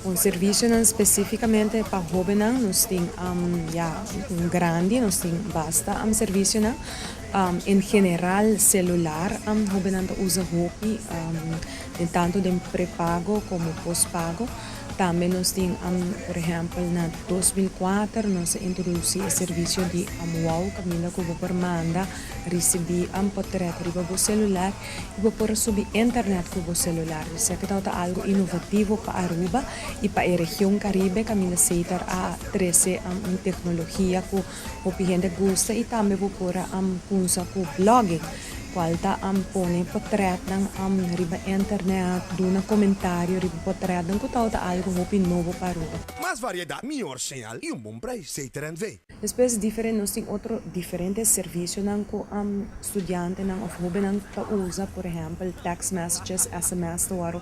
Un servisionan spesífikamente pa hóbennan nos tin am ya un grandi nos tin basta am servisionan En general celular am hobennan ta usa hopi den tanto den prepago como postpago tambe nos tin am por ehempel na dos mil kuater nos a introduci e servicio di am wow caminda cu bo por manda ricibi am potret riba bo celular y bo por a subi internet cu bo celular mi sique tawata algo innovativo pa Aruba y pa e region Caribe caminda Seita a trece am un tecnologia cu Hopi hende gusta y tambe bo por a kunsa ku blogging kual ta pone potretnan riba internet, duna komentario riba potretnan ku ta ota algu hopi nobo pa Aruba. Mas variedat, mihor señal y un bon prijs, zei Terentve. Despues diferen nos tin otro diferente servisionan ku studiantenan of hobennan ta usa, por ehèmpel text messages, sms ta wòrdu.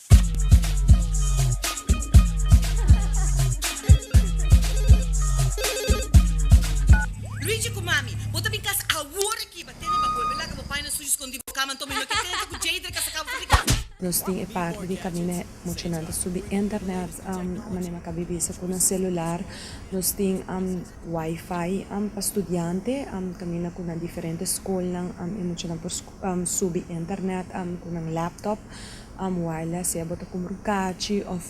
Richie cu Mami, bo ta bin cas awor aki, ba tene ba bolbe laga bo pai na sushi scondi bo cama, anto mi no ke sensa cu Jadre ca sa caba for di casa. Nos tin e parti di camina e mocionan ta subi internet manera ca bibi sa cu nan celular, nos tin wifi pa studiante camina cu nan diferente scolnan e mocionan por subi internet ku nan laptop wireless sea bo ta kumbra un kachi òf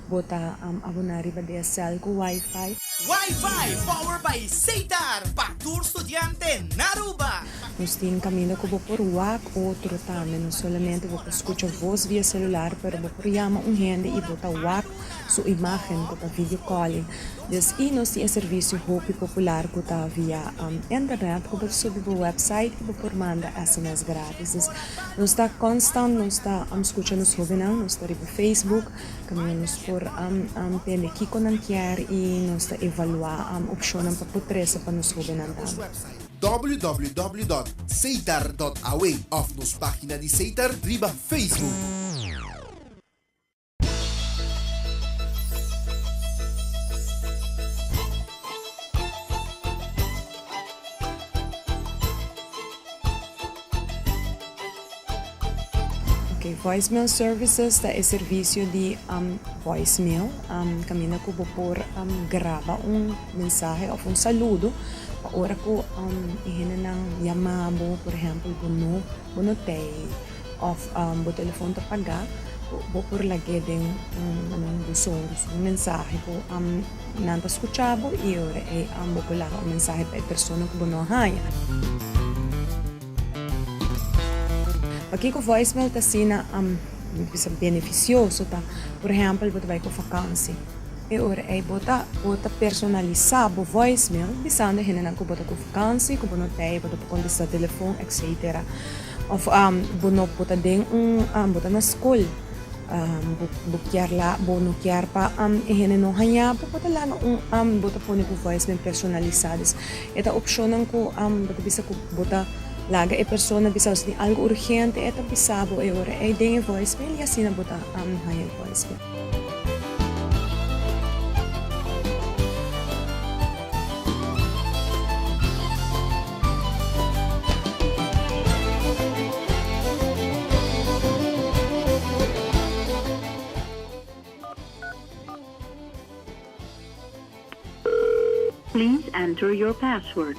bo ta aboná riba di e sèl ku wifi. Wifi power by Seitar pa tur studiante na Aruba! Nos tin kaminda ku bo por wak otro tambe, no solamente bo por skucha vos via selular pero bo por yama un hende i bo ta wak su imágen ku ta video calling. Dus i nos tin e servisio hopi popular ku ta via internet ku bo ta subi bo website i bo por manda sms grátis. Dus nos ta konstant nos ta skucha nos hóbennan, nos ta riba facebook kaminda nos por tende kiko nan kier i nos ta evaluá opshonnan pa por trese pa nos hóbennan tambe. www.ceitar.aw òf nos página di Ceitar riba facebook. Voicemail services ta e servisio di voicemail kaminda ku bo por graba un mensahe òf un saludo pa ora ku e hendenan yama bo, por ehèmpel bo no tei. Of bo telefon ta pagá, bo por lag'é den un buzon di un mensahe ku nan ta skuchá bo i ora ei bo por laga un mensahe pa e persona ku bo no a haña. Pakiko voicemail ta asina bisa benefisioso ta, por ehèmpel bo ta bai pa un vakansi, e ora ei bo ta bo ta personalisá bo voicemail bisando e hendenan ku bo ta ku vakansi, ku bo no tei, bo ta por kontestá telefon, etsetera. Of bo no bo ta den un bo ta na skol bo kier la bo no kier pa e hende no haña bo bo ta laga un bo ta pone bo voice men personalisa dus e ta opshonnan ku bo ta bisa ku bo ta laga e persona bisa si tin algu urgente e ta bisa bo e ora ei den e voice mail i asina bo ta haña e voice mail. Please enter your password.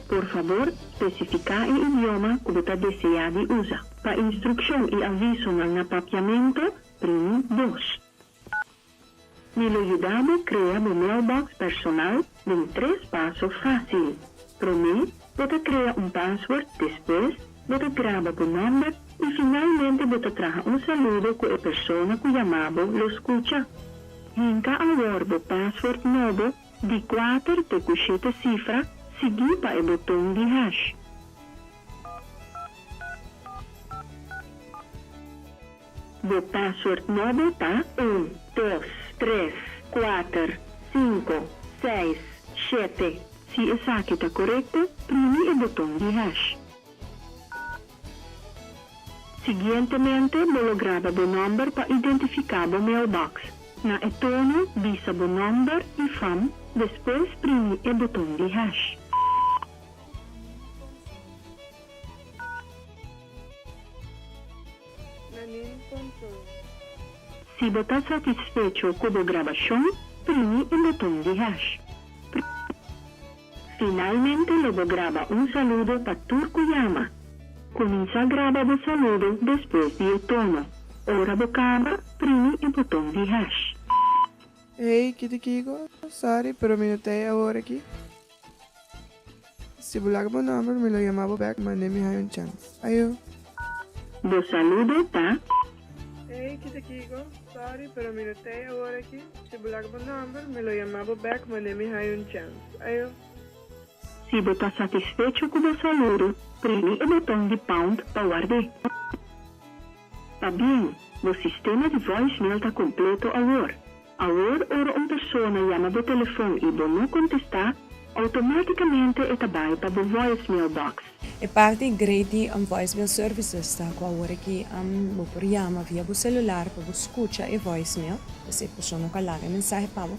Por fabor, spesifiká e idioma ku bo ta deseá di usa. Pa instrukshon i avisonan na papiamentu, primi dos. Mi lo yuda bo krea bo mailbox personal den tres paso fásil. Promé, bo ta krea un pasword, despues, bo ta graba bo nòmber i finalmente bo ta traha un saludo ku e persona ku yama bo lo skucha. Hinka awor bo pasword nobo di kuater te ku shete sifra, sigui pa e boton di hash. Bo password no bo ta un, dos, tres, kuater, sinku, seis, shete. Si esaki ta korekto, primi e boton di hash. Siguientemente bo lo graba bo nòmber pa identifiká bo mailbox. Na e tono bisa bo nòmber i fam, despues primi e boton di hash. Na nin control. Si bo ta satisfecho cu bo grabacion, primi e boton di hash. Finalmente lo bo graba un saludo pa tur cu yama. Cuminsa graba bo saludo despues di e tono. Ora bo caba, primi e boton di hash. Hey, kiti Kiko, sorry, pero mi no ta ei awor aki. Si bo laga bo nomber mi lo yama bo bek mane mi haya un chans. Ayo. Bo saludo ta. Ey ki ta kico sorry pero mi no tey awor aki si bo laga bo nomber mi lo yama bo bek mane mi haya un chans. Ayo. Si bo ta satisfecho cu bo saludo primi e boton di pound pa wardé. Pabien, bo sistema di voicemail ta completo awor. Awor ora un persona yama bo telefon i bo no kontestá, outomátikamente e ta bai pa bo voicemail box. E parti great di voicemail services ta ku awor aki bo por yama via bo selular pa bo skucha e voicemail, pues e persona ku a laga e mensahe pa bo,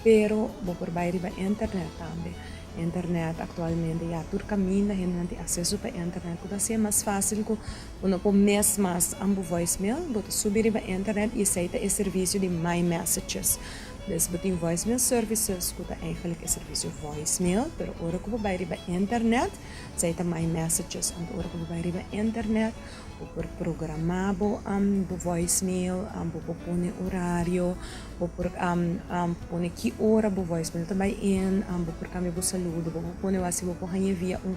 pero bo por bai riba internet tambe. Internet aktualmente ya tur kaminda, hende nan tin aseso pa internet ku ta hasié mas fásil ku Bo no por mes mas an bo voicemail, bo ta subi riba internet y esey ta e servicio di My Messages. Pues bo tin voicemail services cu ta eigenlijk e servicio voicemail, pero ora cu bo bay riba internet, esey ta My Messages. Anto ora cu bo bay riba internet, bo por programa bo bo voicemail, bo por pone horario, bo por pone ki ora bo voicemail ta bay in, bo por cambia bo saludo, bo por pone bo asi bo por haña via un